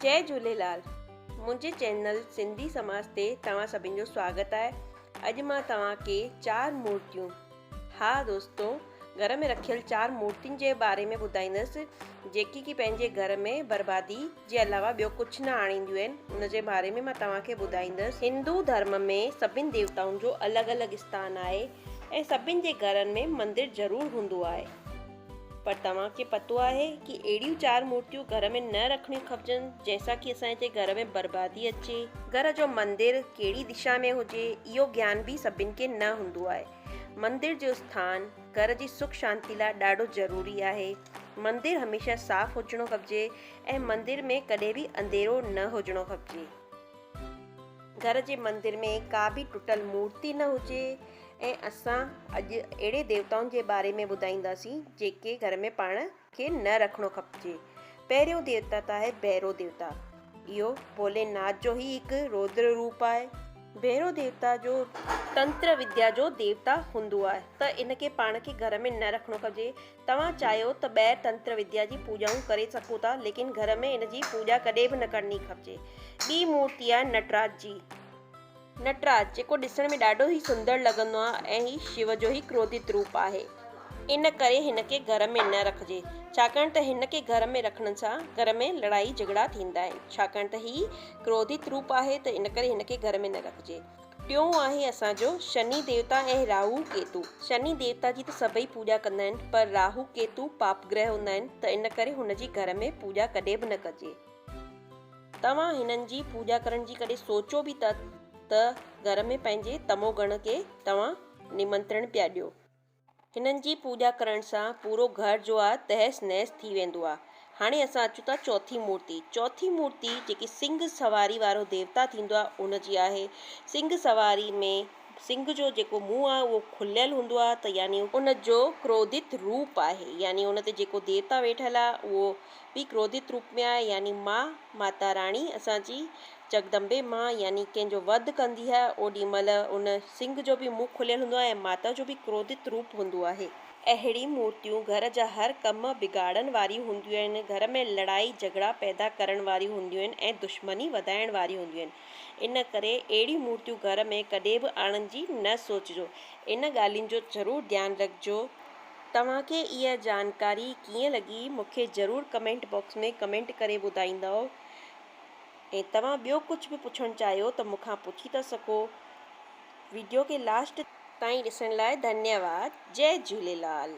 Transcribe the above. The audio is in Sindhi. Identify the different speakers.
Speaker 1: جئي جهوليلال منهنجي چينل سنڌي سماج تي توهان سڀن جو سواگت آهي اڄ مان توهان کي چار مورتيون ها دوستو گهر ۾ رکيل چار مورتين جي باري ۾ ٻڌائيندس جيڪي ڪي پنهنجي گهر ۾ بربادي جي علاوه ٻيو ڪجهه نه آڻينديون آهن ان جي باري ۾ مان توهان کي ٻڌائيندس هندو ڌرم ۾ سڀن ديوتائن جو الڳ الڳ اسٿان آهي ۽ سڀن جي گهرن ۾ مندر ضرور هوندو آهي. پر توهان کي پتو آهي ڪي اهڙيون چار مورتيون گهر ۾ نه رکڻيون کپجن جنهن سان ڪي اسان جي گهر ۾ بربادي اچي. گهر جو مندر ڪهڙي دشا ۾ هجي اهو گيان به سڀن کي نه هوندو آهي. مندر جو اسٿان گهر جي سک شانتي لاء ڏاڍو ضروري آهي. مندر هميشه صاف هجڻو کپجي ۽ مندر ۾ ڪڏهن به انڌيرو نه هجڻو کپجي. گهر جي مندر ۾ ڪا به ٽٽل مورتي نه هجي ۽ اسان اڄ اهڙي ديوتائن جي باري ۾ ٻڌائينداسين جيڪي گهر ۾ پاڻ کي نه رکڻو کپجي. پهريون ديوتا ته آهي ڀيرو ديوتا. اهو ڀولي ناٿ جو ئي هڪ رودر روپ آهي. ڀيرو ديوتا جو تنتر وديا جو ديوتا هوندو آهي ته ان کي پاڻ کي گهر ۾ نه رکڻو کپجي. توهان چاهيو ته ٻاهر تنتر وديا جي پوڄائون ڪري سگهو ٿا ليڪن گهر ۾ ان جي پوڄا ڪڏهن به نه ڪرڻي کپجي. ٻي مورتي آهي نٽراج جي. نٽراج جيڪو ڏسڻ ۾ ڏاڍو ئي سندر لڳندو آهي ۽ هي شو جو ئي ڪروڌت روپ آهي ان ڪري هن کي گهر ۾ نه رکجي ڇاڪاڻ ته هن کي گهر ۾ رکڻ سان گهر ۾ لڙائي جهڳڙا ٿيندا آهن ڇاڪاڻ ته هي ڪروڌت روپ آهي ته ان ڪري هن کي گهر ۾ نه رکجي. ٽيون آهي اسان جو شني ديوتا ۽ راهو ڪيتو. شني ديوتا جي ته سڀئي پوڄا ڪندا آهن پر راهو ڪيتو پاپ گرهه هوندا آهن ته ان ڪري هن جي گهر ۾ پوڄا ڪڏهن به نه ڪجي. توهان هنن جي پوڄا ڪرڻ جي ڪڏهن سوچيو به ته ته گهر ۾ پنهنجي تمو گڻ کي توهان نمنترڻ پيا ڏيو. هنن جي پوڄا ڪرڻ سان پورو گهر جو آ تهس نهس ٿي ويندو آ. هاڻي اسان اچون ٿا چوٿين مورتي. چوٿين مورتي جيڪي سنگهه سواري وارو ديوتا ٿيندو آ ان جي آهي. سنگهه سواري ۾ سنگهه جو جيڪو منهن آ اهو کليل هوندو آ ته يعني ان جو ڪروڌت روپ آهي يعني ان تي جيڪو ديوتا ويٺل آ اهو به ڪروڌت روپ ۾ آهي يعني ماء ماتا راڻي اسان جي جڳدمبي ماء يعني ڪنهن جو وڌ ڪندي آهي، اوڏي مهل ان سنگهه جو به منهن کليل هوندو آهي ۽ ماتا جو به ڪروڌت روپ هوندو آهي. اهڙيون مورتيون گهر جا هر ڪم بگاڙڻ واريون هونديون آهن، گهر ۾ لڙائي جهڳڙا پيدا ڪرڻ واريون هونديون آهن ۽ دشمني وڌائڻ واريون هونديون آهن. ان ڪري اهڙيون مورتيون گهر ۾ ڪڏهن به آڻڻ جي نه سوچجو. ان ڳالهين جو ضرور ڌيان رکجو. توهان کي اها جانڪاري ڪيئن لڳي مون کي ضرور ڪمينٽ باڪس ۾ ڪمينٽ ڪري ٻڌائيندؤ. ۽ توهان ٻيو ڪجهه به پڇڻ چاهيو ته مون کان پڇي ٿا سگهو. ويڊيو کي لاسٽ. تائين ڏسڻ لاء ڌنيواد. جئي جهوليلال.